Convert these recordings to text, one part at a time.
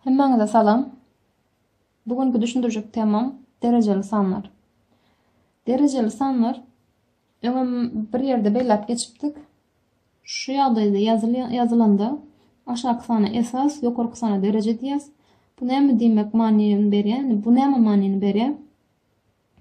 Hemmäňize salam. Bu günki düşündirjek temam derejeli sanlar. Derejeli sanlar öňem bir ýerde belläp geçipdik. Şu ýagdaýda ýazylýan ýazylanda aşaky sana esas, ýokarky sana dereje diýýäs. Bu näme diýmek manyny berýär? Bu näme manyny berýär?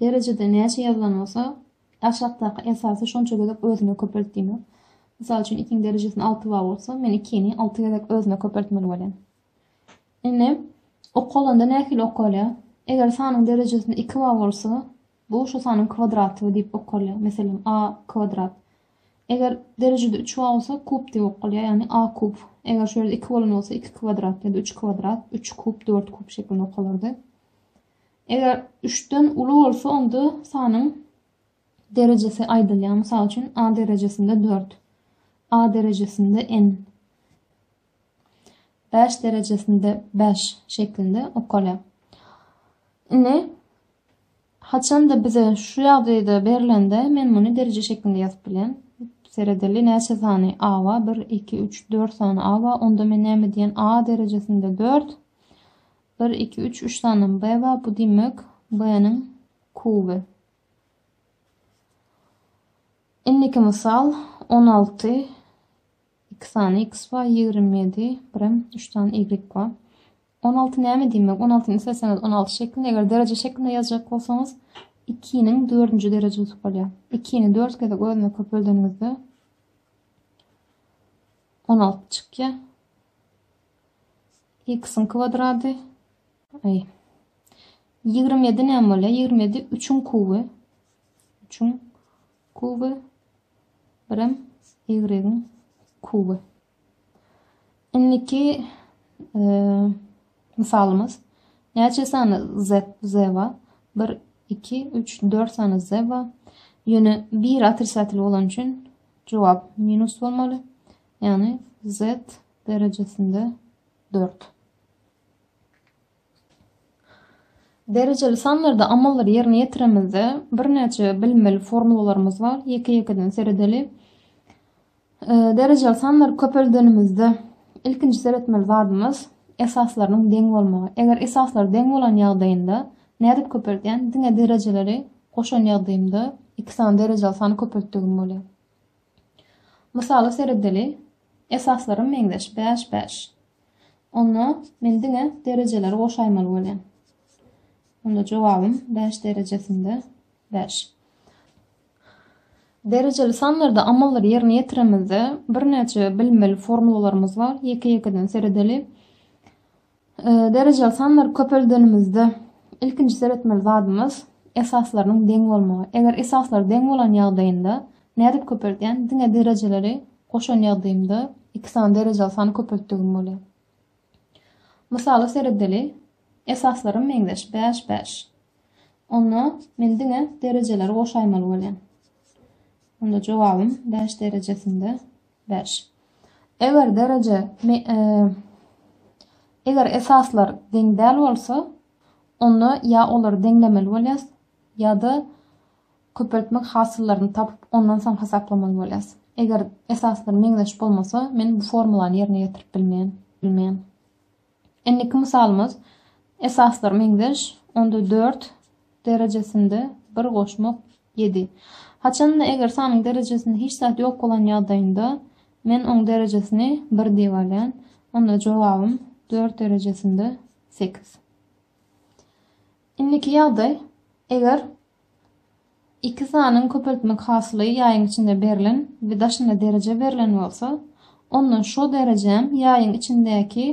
Derejede näçe ýazylan bolsa, aşakdaky esasy şonça gezek özüne köpelt diýmek. Mysal üçin, ikiň derejesinde alty bar bolsa, men ikini alty gezek özüne köpeltmeli bolýan. Indi okalanda nähili okalýar? Eger sanyň derejesinde iki bar bolsa, bu şu sanyň kwadraty diýip okalýar. Meselem, a kwadrat. Eger derejede üç bar bolsa, kub diýip okalýar, ýagny a kub. Eger şu ýerde iki bolan bolsa, iki kwadrat ýa-da üç kwadrat, üç kub, dört kub şeklinde okalardy. Eger üçden uly bolsa, onda sanyň derejesi aýdylýar. Mysal üçin, A derejesinde dört, A derejesinde n, bäş derejesinde bäş şeklinde okalýar. Indi haçanda bize şu ýagdaýda berilende men muny dereje şeklinde ýazyp bilýän. Seredeli näçe sany A bar? 1, 2, 3, 4 sany A bar. Onda men näme diýen? A derejesinde 4, Bir, iki, üç, üç sanym B bar, bu diýmek B-niň kuby. Indiki mysal on alty, iki sany X bar, ýigrimi ýedi, birem üç sany Y bar. On alty näme diýmek? On altyny isleseňiz on alty şeklinde, eger dereje şeklinde ýazjak bolsaňyz, ikiniň dördünji derejesi bolýar. Ikini dört gezek özüne köpeldeniňizde on alty çykýar. X-iň kwadrady. Aý. Ýigrimi ýedi näme bolýar? Ýigrimi ýedi üçüň kuby. Üçüň kuby. Birem ýigregiň kuby. Indiki e, misalymyz. Näçe sany z, z bar? 1, 2, 3, 4 sany z bar. Ýöne 1 otricatly bolan üçin jogap minus bolmaly. Ýagny z derejesinde dört. Derejeli sanlarda amallary ýerine ýetiremizde birnäçe bilinmeli formulalarymyz bar. Ýeke-ýekeden seredeli. Derejeli sanlar köpeldenimizde ilkinji seretmeli zadymyz esaslarynyň deň bolmagy. Eger esaslar deň bolan ýagdaýynda nädip köpeldýän? Diňe derejeleri goşan ýagdaýymda iki sany derejeli sany köpeltdigim bolýar. Mysala seredeli, esaslarym meňzeş, bäş, bäş. Onda men diňe derejeleri goşaýmaly bolýan. Onda jogabym bäş derejesinde bäş. Derejeli sanlarda amallary ýerine ýetiremizde birnäçe bilinmeli formulalarymyz bar. Ýeke-ýekeden seredeli. Derejeli sanlary köpeldenimizde ilkinji seretmeli zadymyz esaslarynyň deň bolmagy. Eger esaslary deň bolan ýagdaýynda nädip köpeldýän? Diňe derejeleri goşan ýagdaýymda iki sany derejeli sany köpeltdigim bolýar. Mysala seredeli. Esaslarym meňzeş bäş bäş. Onda men diňe derejeleri goşaýmaly bolýan. Onda jogabym bäş derejesinde Bäş. Eger dereje me Eger esaslar deň däl bolsa, onda ýa olary deňlemeli bolýas, ýa-da köpeltmek hasyllaryny tapyp, ondan soň hasaplamaly bolýas. Eger esaslar meňzeş bolmasa, men bu formulany ýerine ýetirip bilmeýän, bilmeýän. Indiki mysalymyz Esaslary meňzeş, onda dört derejesinde bir goşmak ýedi. Haçanda eger sanyň derejesinde hiç zat ýok bolan ýagdaýynda men oň derejesini bir diýip alýan. Onda jogabym dört derejesinde sekiz. Indiki ýagdaý, eger Iki sanyň köpeltmek hasyly ýaýyň içinde berlen we daşynda dereje berlen bolsa, onda şo derejem ýaýyň içindäki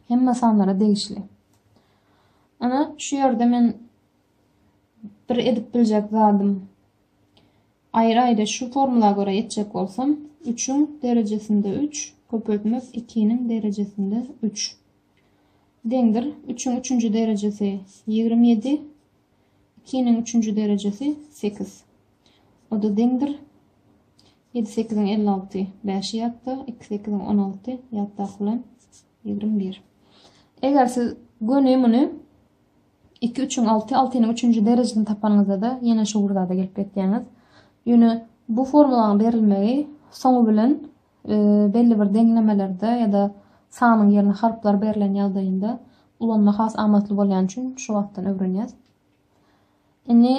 hemme sanlara degişli. Ana, şu ýerde men bir edip biljek zadym aýry-aýry şu formula görä etjek bolsam, üçüň derejesinde üç köpeltmek ikiniň derejesinde üç deňdir. Üçüň üçünji derejesi ýigrimi ýedi, Ikiniň üçünji derejesi sekiz. O-da deňdir. Ýedi sekiziň elli alty. Bäşi ýatda, iki sekiziň on alty. Ýatdaky bilen ýigrimi bir. Eger siz göni muny iki üçiň alty, altynyň üçünji derejesini tapanyňyzda-da ýene şu bir zada gelip ýetýäňiz. Ýöne bu formulaň berilmegi soňy bilen belli bir deňlemelerde ýa-da sanyň ýerine harplar berlen ýagdaýynda ulanma has amatly bolýan üçin şu wagtdan öwrenýäs. Indi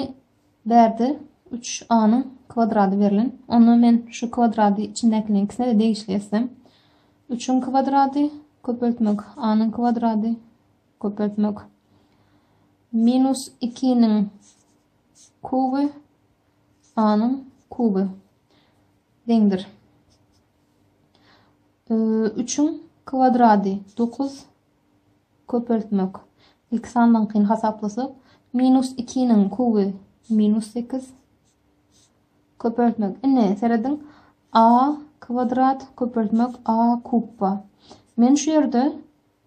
bärde 3a-nyň kwadrady berlen. Onda men şu kwadrady içindäkiniň ikisine de degişli etsem. 3-iň kwadrady köpeltmek a-nyň kwadrady köpeltmek minus 2-niň kuby a-nyň kuby. deňdir. Üçüň kwadrady dokuz köpeltmek. Ilki sanyňkyny hasaplasak, minus ikiniň kuby minus sekiz köpeltmek. Ine, serediň, a kwadrat köpeltmek a kubba. Men şu ýerde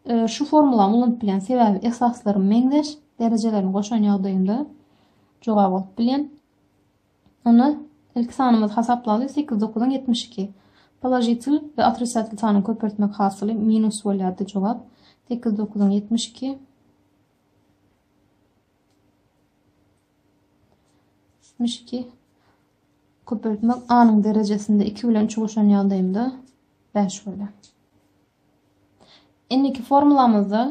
e, şu formulany ulanyp bilen sebäbi esaslarym meňzeş, derejelerini goşan ýagdaýynda jogap alyp bilen. Onda ilki sanymyzy hasaplaly, sekiz dokuzyň ýetmiş iki. Položitel we otrisatel sanyň köpeltmek hasyly minus bolýardy. Jogap, sekiz dokuzyň ýetmiş iki. Ýetmiş iki. Köpeltmek anyň derejesinde iki bilen üçi goşan ýagdaýymda bäş bolýar. Indiki formulamyzda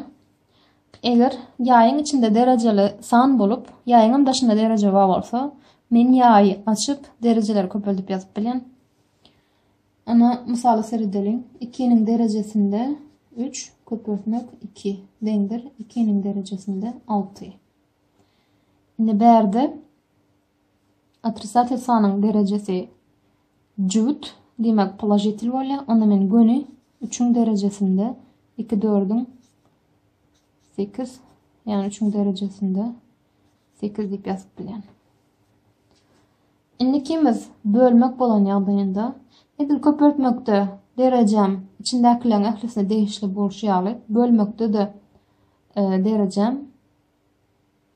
eger ýaýyň içinde derejeli san bolup, ýaýyňam daşynda dereje bar bolsa, men ýaýy açyp, derejeleri köpeldip ýazyp bilýän. Ana, mysala seredeliň. 2-niň derejesinde 3 köpeltmek 2 deňdir 2-niň derejesinde 6. Indi bärde Otrisatel sanyň derejesi jübüt, diýmek, položitel bolýar. Onda men göni üçüň derejesinde iki dördüň sekiz, ýagny üçüň derejesinde sekiz diýip ýazyp bilýän. Indikimiz bölmek bolan ýagdaýynda edil köpeltmekde derejem içindäkileriň ählisine degişli bolşy ýaly bölmekde-de e, derejem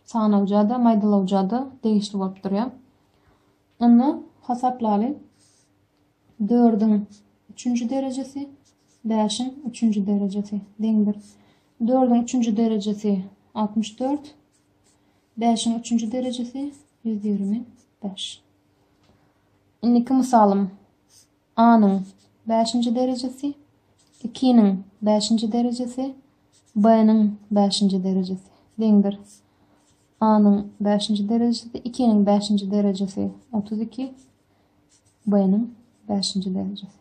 sanawja-da, maýdalawja-da degişli bolup durýar. Onda hasaplaly dördüň üçünji derejesi, bäşiň üçünji derejesi deňdir. Dördüň üçünji derejesi altmyş dört, bäşiň üçünji derejesi ýüz ýigrimi bäş. Indiki mysalym. A-nyň bäşinji derejesi, iki-niň bäşinji derejesi, B-niň bäşinji derejesi deňdir. A-nyň bäşinji derejesi, iki-niň bäşinji derejesi otuz iki, B-niň bäşinji derejesi.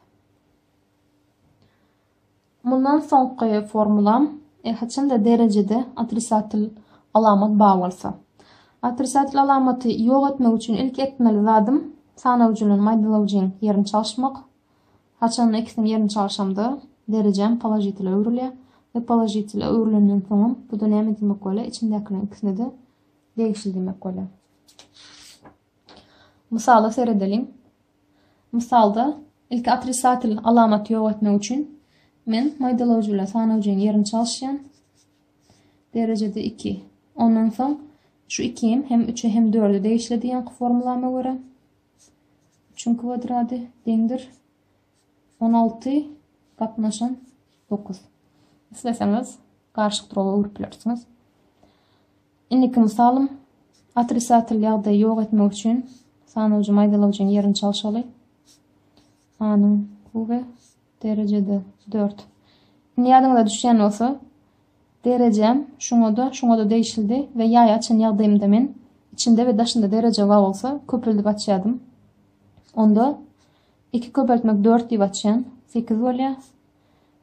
Mundan soňky formulam e haçanda derejede otrisatel alamat bar bolsa. Otrisatel alamaty ýok etmek üçin ilki etmeli zadym sanawjy bilen maýdalawjyň ýerini çalyşmak. Haçanda ikisiniň ýerini çalyşamda derejäm položitele öwrülýär we položitele öwrülenden soňam buda näme diýmek bolýar içindäkileriň ikisine-de degişli diýmek bolýar. Mysala seredeliň. Mysalda, ilki otrisatel alamaty ýok etmek üçin men maýdalawjy bilen sanawjynyň ýerini çalyşýan. Derejede iki. Ondan soň şu ikim hem üçe hem dörde degişli diýenki formulama görä. Üçüň kwadrady deňdir. On alty gatnaşan dokuz. Isleseňiz garşy duraba öwrüp bilersiňiz. Indiki mysalym, otrisatel ýagdaýy ýok etmek üçin sanawjy maýdalawjyň ýerini çalşaly. A-nyň kuby derejede dört. Indi ýadyňyza düşýän bolsa, derejem şuňa-da, şuňa-da degişlidi we ýaýy açan ýagdaýymda men içinde we daşynda dereje bar bolsa, köpeldip açýardym. Onda iki köpeltmek dört diýip açýan, sekiz bolýar.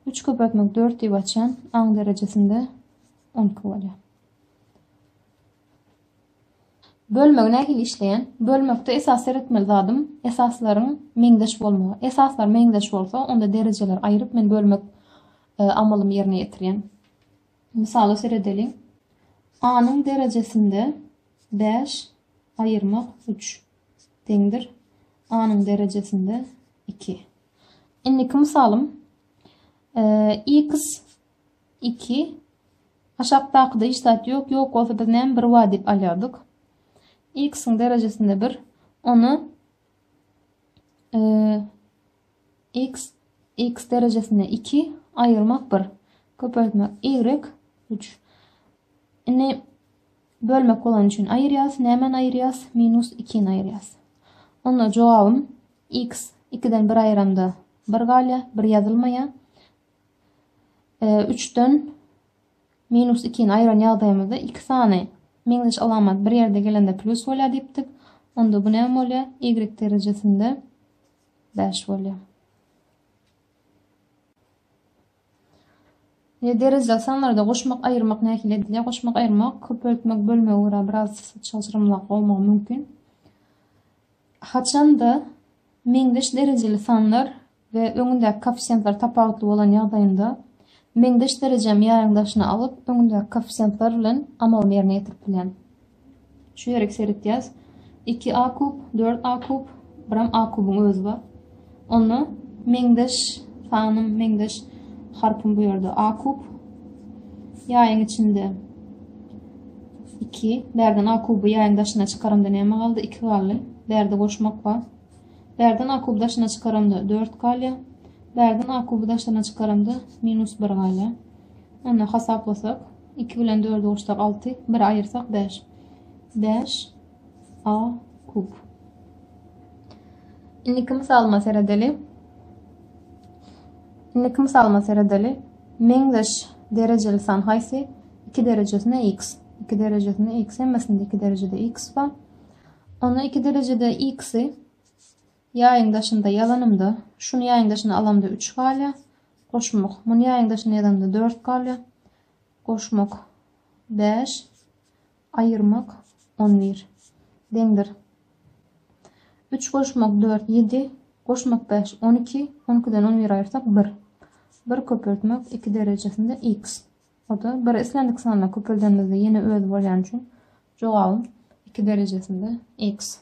Üç köpeltmek dört diýip açýan, aň derejesinde on iki bolýar. Bölmegi nähili işleýän? Bölmekde esas seretmeli zadym esaslaryň meňzeş bolmagy. Esaslar meňzeş bolsa, onda derejeleri aýryp men bölmek e, amalymy ýerine ýetirýän. Mysala seredeliň. A-nyň derejesinde 5 aýyrmak 3 deňdir. A-nyň derejesinde 2. Indiki mysalym e, x Iki. Aşakdakyda hiç zat ýok, ýok bolsa biz näme bir bar diýip alýardyk. X-iň derejesinde bir, ony X, X derejesinde iki, aýyrmak bir, köpeltmek Y, üç. Indi bölmek bolan üçin aýyrýas, nämäni aýyrýas? Minus ikini aýyrýas. Onda jogabym X ikiden bir aýyramda bir galýa, bir ýazylmaýa. üçden minus ikini aýyran ýagdaýymyzda iki sany meňzeş alamat bir ýerde gelende plus bolýar diýipdik. Onda bu näme bolýar? Y derejesinde 5 bolýar. Ýa derejeli sanlarda goşmak, aýyrmak nähili edilýär? Goşmak, aýyrmak köpeltmek bölmegi görä biraz çalşyrymlyrak bolmagy mümkin. Haçanda meňzeş derejeli sanlar we öňündäki koeffisiýentler tapawutly bolan ýagdaýynda meňzeş derejemi ýaryň daşyna alyp, öňündäki koeffisiýentler bilen amalyny ýerine ýetirip bilýän. Şu ýerik seretýäs. Iki a kub, dört a kub, biram a kubyň özi bar. Onda meňzeş sanym, meňzeş harpym bu ýerde a kub. Ýaýyň içinde 2. Bärden a kuby ýaýyň daşyna çykarymda näme galdy? 2 galdy. Bärde goşmak bar. Bärden akuby daşyna çykaramda, dört galýar. Bärden akuby daşyna çykaramda, minus bir galýar. Onda hasaplasak, iki bilen dördi goşsak, alty, biri aýyrsak, bäş. Bäş a kub. Indiki mysalyma seredeli. Indiki mysalyma seredeli. Meňzeş derejeli san haýsy? 2 derejesinde x. 2 derejesinde x hemmesinde 2 derejede x bar. Onda iki derejede x-i ýaýyň daşynda ýazanymda, şuny ýaýyň daşyna alamda üç galýar. Goşmak. Muny ýaýyň daşyna ýazanymda dört galýar. Goşmak bäş. Aýyrmak on bir. Deňdir. Üç goşmak dört ýedi. Goşmak bäş on iki. On ikiden on biri aýyrsak bir. Bir köpeltmek iki derejesinde x. O-da bir islendik sanda köpeldenimizde ýene özi bolýany üçin jogabym iki derejesinde x.